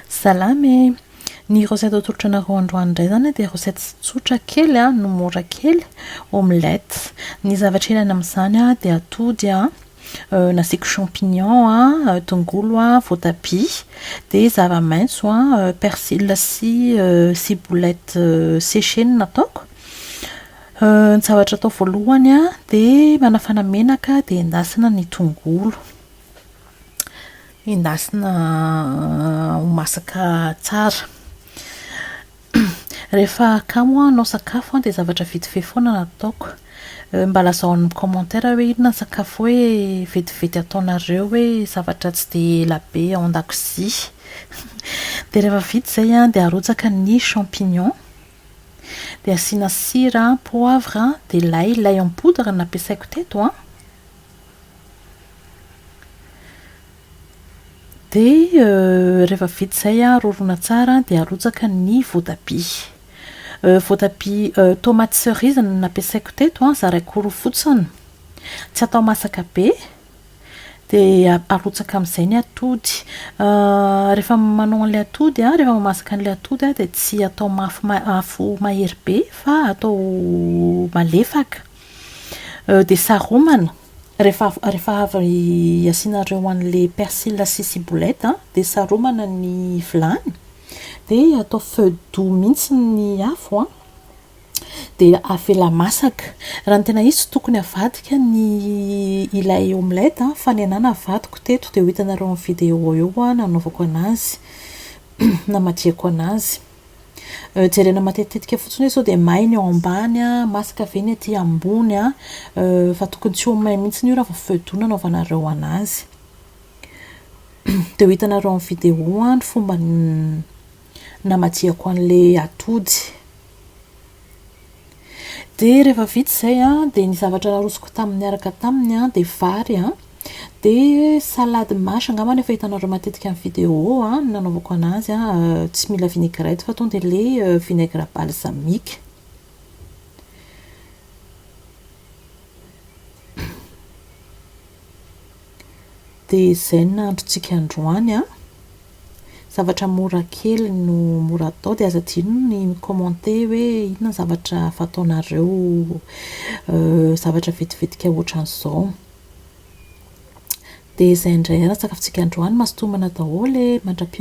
Salama e! Ny recette atolotro anareo androany indray izany dia recette tsotra kely no mora kely, omelette. Ny zavatra ilaina amin'izany dia atody nasiako champignon, tongolo, voatabia, dia zava-maitso, persil sy ciboulette séchée no nataoko. Ny zavatra atao voalohany dia manafana menaka dia endasina ny tongolo. Endasina ho masaka tsara. Rehefa kamo aho hanao sakafo dia zavatra vetivety foana no ataoko. Mba lazao amin'ny commentaire hoe inona ny sakafo hoe vetivety ataonareo hoe zavatra tsy dia ela be ao an-dakozia. Dia rehefa vita izay an, dia arotsaka ny champignons, dia asiana sira, poivre, dia lay, lay en poudre no nampiasaiko teto an. Dia rehefa vita izay an, rorona tsara an, dia arotsaka ny voatabia. Voatabia tomates cerises no nampiasaiko teto an, zaraiko roa fotsiny. Tsy atao masaka be. Dia arotsaka amin'izay ny atody. Rehefa manao an'ilay atody an, rehefa mamasaka an'ilay atody an, dia tsy atao mafy ma- afo mahery be fa atao malefaka. Dia saromana, rehefa rehefa avy asianareo an'ilay persil sy ciboulette dia saromana ny vilany, dia atao feu doux mihitsy ny afo an, dia avela masaka. Raha ny tena izy tsy tokony avadika ny ilay omelette fa ny ahy navadiko teto dia ho hitanareo amin'ny vidéo eo nanaovako anazy, namadihako anazy. Jerena matetitetika fotsiny hoe sao dia may ny ao ambany a, masaka ve ny aty ambony a, fa tokony tsy ho may mihitsy io raha vao feu doux no anaovanareo an'azy. Dia ho hitanareo amin'ny vidéo an ny fomba namajihako an'ilay atody. Dia rehefa vita izay an, dia ny zavatra narosoko tamin'ny niaraka taminy an, dia vary an, dia salade mâche angamba no efa hitanareo matetika amin'ny vidéo an, ny nanaovako anazy an, tsy mila vinaigrette fa tonga dia ilay vinaigre balsamique. Dia izay ny nahandrontsika androany an. zavatra mora kely no mora atao dia aza adino ny mi commenter hoe inona ny zavatra fataonareo zavatra vetivetika otran'izao dia izay indray aratsakafitsika androany mazotoa manao daholo e mandra-peo.